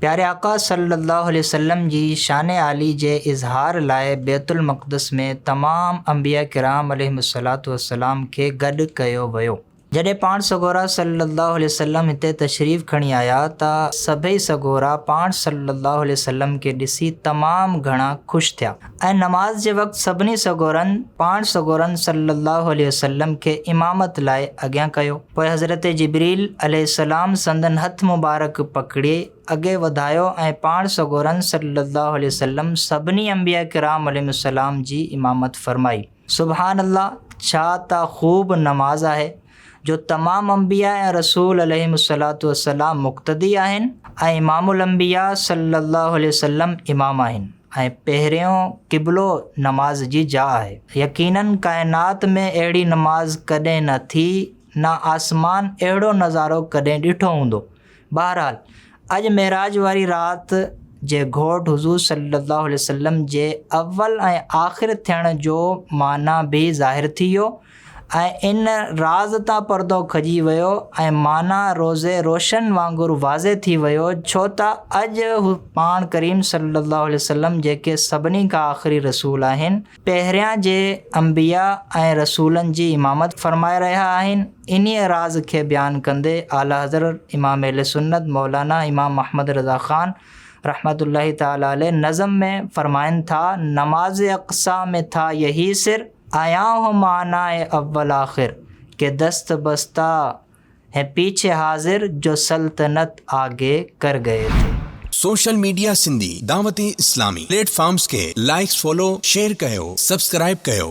پياري آقا صلّي اللّٰه عليه وسلّم جي شان عالي جي اظهار لاء بيت المقدس ۾ تمام انبياء ڪرام عليهم الصلّوة والسّلام کي گڏ ڪيو ويو. جڏهن پاڻ سڳورا صلّي اللّٰه عليه وسلّم هتي تشريف کڻي آيا ته سڀئي سڳورا پاڻ صلّي اللّٰه عليه وسلّم کي ڏسي تمام گهڻا خوش ٿيا. ۽ نماز جي وقت سڀني سڳورن پاڻ سڳورن صلّي اللّٰه عليه وسلّم کي امامت لاء اڳيان ڪيو، پوء حضرت جبريل عليه السّلام سندن هٿ مبارڪ پڪڙي اڳي وڌايو ۽ پاڻ سڳورن صلّي اللّٰه عليه وسلّم سڀني انبياء ڪرام عليهم السّلام جي امامت فرمائي. سبحان الله ڇا ته خوب نماز آهي جو تمام انبياء ۽ رسول عليهم الصلوة والسلام مقتدي آهن ۽ امام الانبياء صلي الله عليه وسلم امام آهن ۽ پهريون قبلو نماز جي جاء آهي يقيناً ڪائنات ۾ اهڙي نماز ڪڏهن نه ٿي نه آسمان اهڙو نظارو ڪڏهن ڏٺو هوندو بهرحال اڄ معراج واري رات جي گهوٽ حضور صلي الله عليه وسلم جي اول ۽ آخر ٿيڻ جو معنيٰ به ظاهر ٿي ويو ۽ ان راز تان پردو کڄي ويو ۽ معنيٰ روز روشن وانگر واضح ٿي ويو ڇو ته اڄ پاڻ ڪريم صلي الله عليه وسلم جيڪي سڀني کان آخري رسول آهن پهريان جي انبياء ۽ رسولن جي امامت فرمائي رهيا آهن. انهيء راز کي بيان ڪندي اعليٰ حضرت امام اهل سنت مولانا امام محمد رضا خان رحمة الله تعالٰي عليه نظم ۾ فرمائن ٿا، نماز اقصيٰ مين ٿا يهي سر، آيان هون معناء اول آخر، ڪي دست بسته، هي پيڇي حاضر جو سلطنت آگي ڪر گئي تي. Social media Sindhi Dawat Islami platforms کي لائيڪس فالو شيئر ڪيو سبسڪرائيب ڪيو.